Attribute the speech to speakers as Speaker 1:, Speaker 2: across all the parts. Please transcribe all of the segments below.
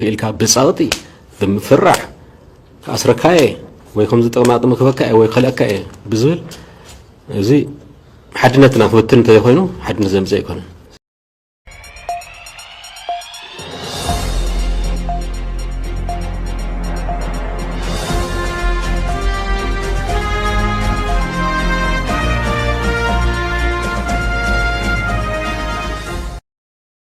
Speaker 1: ኢልካ ብጸቕጢ ብምፍራሕ ክኣስረካ እየ ወይ ከምዚ ጥቕማጥሚ ክህበካ እየ ወይ ክኸልአካ እየ ብዝብል እዚ ሓድነትና ክብትን እንተዘይኮይኑ ሓድነት ዘምፅእ ኣይኮነን።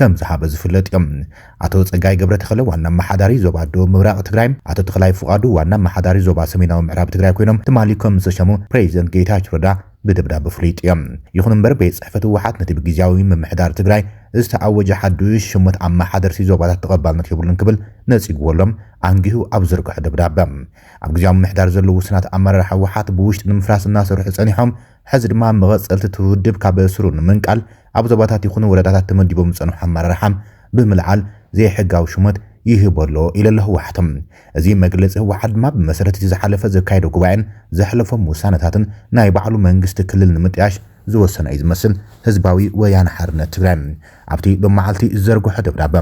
Speaker 2: ከምዝሃበ ዝፍለጥ እዩ። ኣቶ ፀጋይ ገብረተኽለ ዋና ኣመሓዳሪ ዞባ ደቡብ ምብራቕ ትግራይ፣ ኣቶ ተኽላይ ፍቓዱ ዋና ኣመሓዳሪ ዞባ ሰሜናዊ ምዕራብ ትግራይ ኮይኖም ትማሊ ከምዝተሸሙ ፕሬዚደንት ጌታቸው ረዳ ብደብዳበ ፍሊጡ እዩ። ይኹን እምበር ቤት ፅሕፈት ህወሓት ነቲ ብጊዚያዊ ምምሕዳር ትግራይ ዝተኣወጀ ሓዱሽ ሽሞት ኣመሓደርቲ ዞባታት ተቐባልነት የብሉን ክብል ነፂግዎ ኣሎ ኣንጊሁ ኣብ ዝዘርገሖ ደብዳበ። ኣብ ጊዚያዊ ምምሕዳር ዘለዉ ውሱናት ኣመራርሓ ህወሓት ብውሽጢ ንምፍራስ እናሰርሑ ፀኒሖም ሐዚ ድማ መቐፀልቲ እቲ ውድብ ካብ ስሩ ንምንቃል ኣብ ዞባታት ይኹኑ ወረዳታት ተመዲቦም ዝፀንሑ ኣመራርሓ ብምልዓል ዘይሕጋዊ ሹመት ይህቦ ኣሎ ኢሉ ኣሎ ህወሓት። እዚ መግለፂ ህወሓት ድማ ብመሰረት እቲ ዝሓለፈ ዘካየዶ ጉባኤን ዘሕለፎም ውሳነታትን ናይ ባዕሉ መንግስቲ ክልል ንምጥያሽ ዝወሰነ እዩ ዝመስል ህዝባዊ ወያነ ሓርነት ትግራይ። ኣብቲ ሎም መዓልቲ ዝዘርግሖ ደብዳበ፣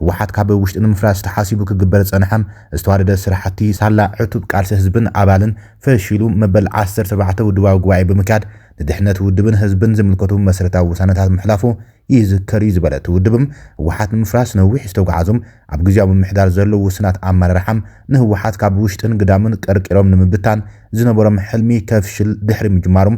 Speaker 2: ህወሓት ካብ ውሽጢ ንምፍራስ ተሓሲቡ ክግበር ዝጸንሐ ዝተዋደደ ስራሕቲ ሳላ ዕቱብ ቃልሲ ህዝብን ኣባልን ፈሺሉ መበል ዓሰርተ ኣርባዕተ ውድባዊ ጉባኤ ብምክያድ ንድሕነት ውድብን ህዝብን ዝምልከቱ መሰረታዊ ውሳነታት ምሕላፉ ይዝከር እዩ ዝበለ እቲ ውድብ፣ ህወሓት ንምፍራስ ነዊሕ ዝተጉዓዙም ኣብ ግዝያዊ ምምሕዳር ዘለዉ ውሱናት ኣመራርሓ ንህወሓት ካብ ውሽጥን ግዳምን ቀርቂሮም ንምብታን ዝነበሮም ሕልሚ ከፍሽል ድሕሪ ምጅማሩም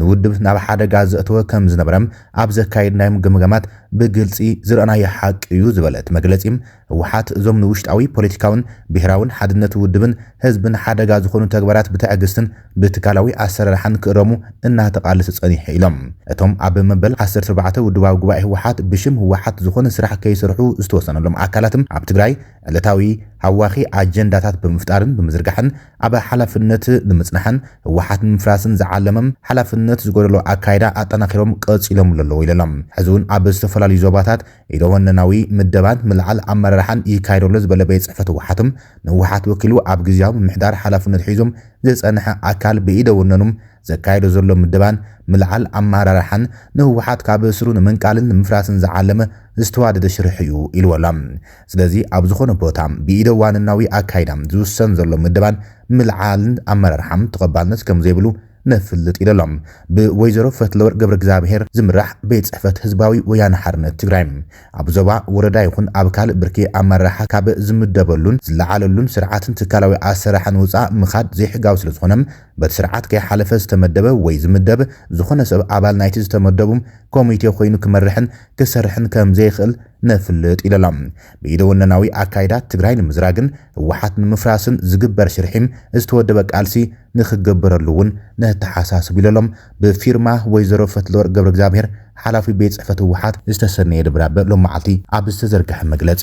Speaker 2: ንውድብ ናብ ሓደጋ ዘእተወ ከም ዝነበረ ኣብ ዘካየድናዮም ግምገማት ብግልፂ ዝረእናዮ ሓቂ እዩ ዝበለ እቲ መግለፂ፣ ህወሓት እዞም ንውሽጣዊ ፖለቲካዊን ብሄራዊን ሓድነት ውድብን ህዝብን ሓደጋ ዝኾኑ ተግባራት ብትዕግስትን ብትካላዊ ኣሰራርሓን ክእረሙ እናተቓለሰ ፀኒሑ ኢሎም። እቶም ኣብ መበል ዓሰርተ ኣርባዕተ ውድባዊ ጉባኤ ህወሓት ብሽም ህወሓት ዝኾነ ስራሕ ከይሰርሑ ዝተወሰነሎም ኣካላት ኣብ ትግራይ ዕለታዊ ሃዋኺ ኣጀንዳታት ብምፍጣርን ብምዝርጋሕን ኣብ ሓላፍነት ንምፅናሕን ህወሓት ንምፍራስን ዝዓለመ ሓላፍነት ዝጎደሎ ኣካይዳ ኣጠናኺሮም ቀፂሎምሉ ኣለዉ ኢሉ ኣሎ። ሕዚ እውን ኣብ ዝተፈላለዩ ዞባታት ኢደወነናዊ ምደባን ምልዓል ኣመራርሓን ይካየድ ኣሎ ዝበለ ቤት ፅሕፈት ህወሓት፣ ንህወሓት ወኪሉ ኣብ ግዝያዊ ምምሕዳር ሓላፍነት ሒዙ ዝፀንሐ ኣካል ብኢደ ወነኑ ዘካይዶ ዘሎ ምደባን ምልዓል ኣመራርሓን ንህወሓት ካብ ስሩ ንምንቃልን ንምፍራስን ዝዓለመ ዝተዋደደ ሽርሒ እዩ ኢልዎ ኣሎ። ስለዚ ኣብ ዝኾነ ቦታ ብኢደ ዋንናዊ ኣካይዳ ዝውሰን ዘሎ ምደባን ምልዓልን ኣመራርሓ ተቐባልነት ከምዘይብሉ ነፍልጥ ኢለሎም ብወይዘሮ ፈትለወርቅ ገብረእግዚኣብሄር ዝምራሕ ቤት ፅሕፈት ህዝባዊ ወያነ ሓርነት ትግራይ ኣብ ዞባ ወረዳ ይኹን ኣብ ካልእ ብርኪ ኣመራርሓ ካብ ዝምደበሉን ዝለዓለሉን ስርዓትን ትካላዊ ኣሰራርሓን ወፃእ ምኻድ ዘይሕጋዊ ስለዝኾነ በቲ ስርዓት ከይሓለፈ ዝተመደበ ወይ ዝምደብ ዝኾነ ሰብ ኣባል ናይቲ ዝተመደቡ ኮሚቴ ኮይኑ ክመርሕን ክሰርሕን ከምዘይኽእል ነፍልጥ ኢለላ። ብኢደወነናዊ ኣካይዳ ትግራይ ንምዝራግን ህወሓት ንምፍራስን ዝግበር ሽርሒም ዝተወደበ ቃልሲ ንክግበረሉ እውን ነተሓሳስብ ኢለሎም ብፊርማ ወይዘሮ ፈትለወርቅ ገብረእግዚኣብሄር ሓላፊ ቤት ፅሕፈት ህወሓት ዝተሰነየ ደብዳበ ሎም መዓልቲ ኣብ ዝተዘርገሐ መግለፂ።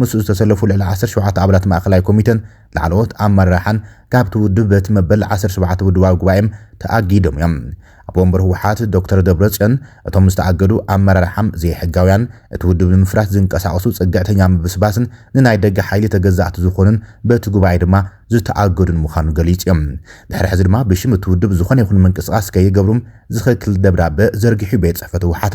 Speaker 2: ምስኡ ዝተሰለፉ ልዕሊ ዓሰርተ ሸውዓተ ኣባላት ማእኸላይ ኮሚቴን ላዕለዎት ኣመራርሓን ካብቲ ውድብ በቲ መበል ዓሰርተ ሸውዓተ ውድባዊ ጉባኤ ተኣጊዶም እዮም። ኣቦ ወንበር ህወሓት ዶክተር ደብረፅዮን እቶም ዝተኣገዱ ኣመራርሓም ዘይሕጋውያን፣ እቲ ውድብ ንምፍራስ ዝንቀሳቐሱ ፅግዕተኛ ምብስባስን ንናይ ደገ ሓይሊ ተገዛእቲ ዝኾኑን በቲ ጉባኤ ድማ ዝተኣገዱን ምዃኑ ገሊፁ እዮም። ድሕሪ ሕዚ ድማ ብሽም እቲ ውድብ ዝኾነ ይኹን ምንቅስቓስ ከይገብሩ ዝኽልክል ደብዳበ ዘርጊሑ ቤት ፅሕፈት ህወሓት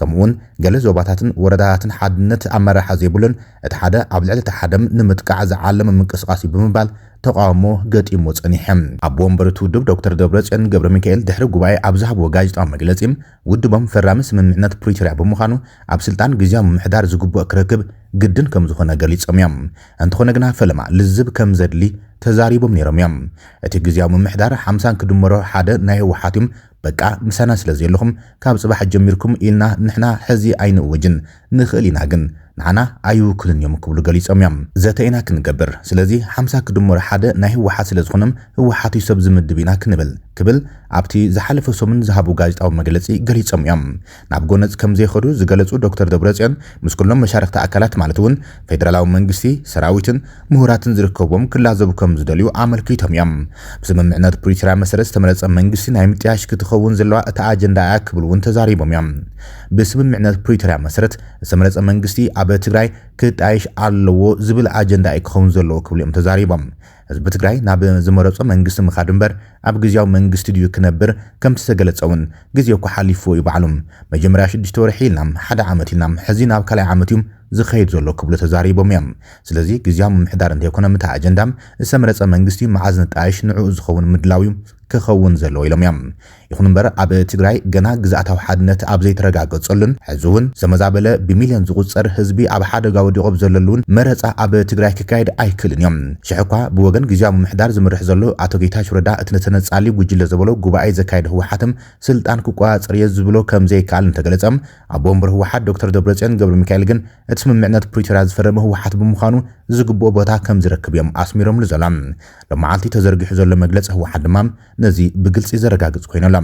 Speaker 2: ከምኡ'ውን ገለ ዞባታትን ወረዳታትን ሓድነት ኣመራርሓ ዘይብሉን እቲ ሓደ ኣብ ልዕሊ እቲ ሓደም ንምጥቃዕ ዝዓለመ ምንቅስቓስ እዩ ብምባል ተቓውሞ ገጢምዎ ጸኒሐ። ኣቦ ወንበር እቲ ውድብ ዶክተር ደብረጽዮን ገብረሚካኤል ድሕሪ ጉባኤ ኣብ ዝሃብዎ ጋዜጣዊ መግለጺ፣ ውድቦም ፈራሚ ስምምዕነት ፕሪቶርያ ብምዃኑ ኣብ ስልጣን ግዝያዊ ምምሕዳር ዝግብኦ ክረክብ ግድን ከምዝኾነ ገሊጾም እዮም። እንተኾነ ግና ፈለማ ልዝብ ከምዘድሊ ተዛሪቦም ነይሮም እዮም። እቲ ግዝያዊ ምምሕዳር ሓምሳን ክድመሮ ሓደ ናይ ህወሓት እዩ፣ በቃ ምሳና ስለ ዘየለኹም ካብ ጽባሕ ጀሚርኩም ኢልና ንሕና ሕዚ ኣይንእውጅን ንኽእል ኢና ግን ንዓና ኣይውክሉን እዮም ክብሉ ገሊጾም እዮም። ዘተ ኢና ክንገብር ስለዚ ሓምሳ ክድመሩ ሓደ ናይ ህወሓት ስለ ዝኾኑም ህወሓት እዩ ሰብ ዝምድብ ኢና ክንብል ክብል ኣብቲ ዝሓለፈ ሰሙን ዝሃቡ ጋዜጣዊ መግለጺ ገሊጾም እዮም። ናብ ጎነጽ ከምዘይኸዱ ዝገለጹ ዶክተር ደብረጽዮን፣ ምስ ኩሎም መሻርኽቲ ኣካላት ማለት እውን ፌደራላዊ መንግስቲ፣ ሰራዊትን ምሁራትን ዝርከቡዎም ክላዘቡ ከምዝደልዩ ኣመልኪቶም እዮም። ብስምምዕነት ፕሪቶርያ መሰረት ዝተመረጸ መንግስቲ ናይ ምጥያሽ ክትኸውን ዘለዋ እታ ኣጀንዳ እያ ክብሉ እውን ተዛሪቦም እዮም። ብስምምዕነት ፕሪቶርያ መሰረት ዝተመረጸ መንግስቲ ኣብ ትግራይ ክጣየሽ ኣለዎ ዝብል ኣጀንዳ እዩ ክኸውን ዘለዎ ክብሉ እዮም ተዛሪቦም። ህዝቢ ትግራይ ናብ ዝመረፆ መንግስቲ ምኻድ እምበር ኣብ ግዝያዊ መንግስቲ ድዩ ክነብር ከምቲ ዝተገለፀ እውን ግዜ እኮ ሓሊፍዎ እዩ ባዕሉ መጀመርያ ሽዱሽተ ወርሒ ኢልና ሓደ ዓመት ኢልና ሕዚ ናብ ካልኣይ ዓመት እዩ ዝኸይድ ዘሎ ክብሉ ተዛሪቦም እዮም ስለዚ ግዝያዊ ምምሕዳር እንተይኮነ ምታ ኣጀንዳ ዝተመረፀ መንግስቲ መዓዝ ንጣየሽ ንዕኡ ዝኸውን ምድላው እዩ ክኸውን ዘለዎ ኢሎም እዮም ይኹን እምበር ኣብ ትግራይ ገና ግዝኣታዊ ሓድነት ኣብ ዘይተረጋገፀሉን ሕዚ እውን ዝተመዛበለ ብሚልዮን ዝቑፀር ህዝቢ ኣብ ሓደጋ ወዲቑ ኣብ ዘለሉን መረፃ ኣብ ትግራይ ክካየድ ኣይክእልን እዮም። ሽሕ እኳ ብወገን ግዝያዊ ምምሕዳር ዝምርሕ ዘሎ ኣቶ ጌታቸው ረዳ እቲ ተነፃሊ ጉጅለ ዘበሎ ጉባኤ ዘካየደ ህወሓትም ስልጣን ክቆፃፀር እየ ዝብሎ ከምዘይከኣል እንተገለፀ ኣቦ ወንበር ህወሓት ዶክተር ደብረፅዮን ገብረሚካኤል ግን እቲ ስምምዕነት ፕሪቶርያ ዝፈረመ ህወሓት ብምዃኑ ዝግብኦ ቦታ ከምዝረክብ እዮም ኣስሚሮምሉ ዘሎም። ሎማዓልቲ ተዘርጊሑ ዘሎ መግለፂ ህወሓት ድማ ነዚ ብግልፂ ዘረጋግፅ ኮይኑ ኣሎ።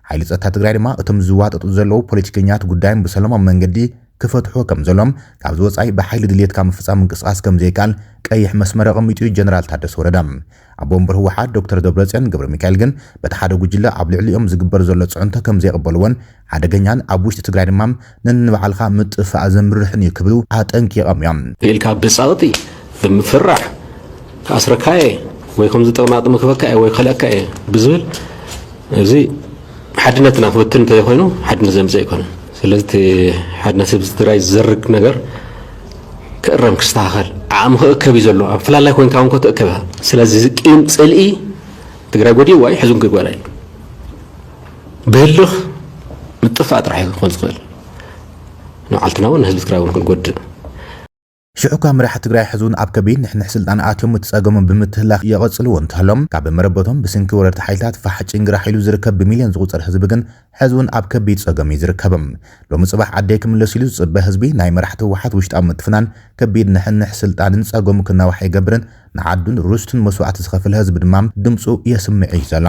Speaker 2: ሓይሊ ፀጥታ ትግራይ ድማ እቶም ዝዋጠጡ ዘለው ፖለቲከኛት ጉዳዮም ብሰለማዊ መንገዲ ክፈትሕዎ ከምዘሎም፣ ካብዚ ወፃኢ ብሓይሊ ድልየትካ ምፍፃም ምንቅስቓስ ከምዘይከኣል ቀይሕ መስመር ኣቐሚጡ እዩ ጀነራል ታደሰ ወረደ። ኣቦ ወንበር ህወሓት ዶክተር ደብረፅዮን ገብረሚካኤል ግን በቲ ሓደ ጉጅለ ኣብ ልዕሊኦም ዝግበር ዘሎ ፅዕንቶ ከምዘይቕበልዎን፣ ሓደገኛን ኣብ ውሽጢ ትግራይ ድማ ነንባዕልኻ ምጥፍፋእ ዘምርሕን እዩ ክብሉ ኣጠንቂቖም እዮም። ኢልካ ብጸቕጢ
Speaker 1: ብምፍራሕ ክኣስረካ እየ ወይ ከምዚ ጥቕማጥሚ ክህበካ እየ ወይ ክኸልኣካ እየ ብዝብል እዚ ሓድነትና ክብትን እንተዘይኮይኑ ሓድነት ዘምፅእ ኣይኮነን። ስለዚ እቲ ሓድነት ህዝቢ ትግራይ ዝዘርግ ነገር ክእረም ክስተኻኸል ዓቕሚ ክእከብ እዩ ዘሎ። ኣብ ፍላላይ ኮይንካ እውን ክትእከብ ኢኻ። ስለዚ እዚ ቂም ፅልኢ ትግራይ ጎዲእዋ እዩ ሕዚ እውን ክጓዳእ እዩ። ብህልኽ ምጥፋእ ጥራሕ እዩ ክኾን ዝኽእል ንባዓልትና ውን ንህዝቢ ትግራይ ውን ክንጎድእ።
Speaker 2: ሽሕ እኳ መራሕቲ ትግራይ ሕዚ ውን ኣብ ከቢድ ንሕንሕ ስልጣን ኣትዮም እቲ ፀገሞም ብምትህላኽ የቐፅልዎ እንተሃሎ ካብ መረበቶም ብስንኪ ወረርቲ ሓይልታት ፋሕ ጭንግራሕ ኢሉ ዝርከብ ብሚልዮን ዝቑፀር ህዝቢ ግን ሕዚ ውን ኣብ ከቢድ ፀገም እዩ ዝርከብ። ሎሚ ፅባሕ ዓደይ ክምለስ ኢሉ ዝፅበ ህዝቢ ናይ መራሕቲ ህወሓት ውሽጣዊ ምትፍናን ከቢድ ንሕንሕ ስልጣንን ፀገሙ ክናዋሕ ኣይገብርን ንዓዱን ርስቱን መስዋእቲ ዝኸፈለ ህዝቢ ድማ ድምፁ የስምዕ እዩ ዘሎ።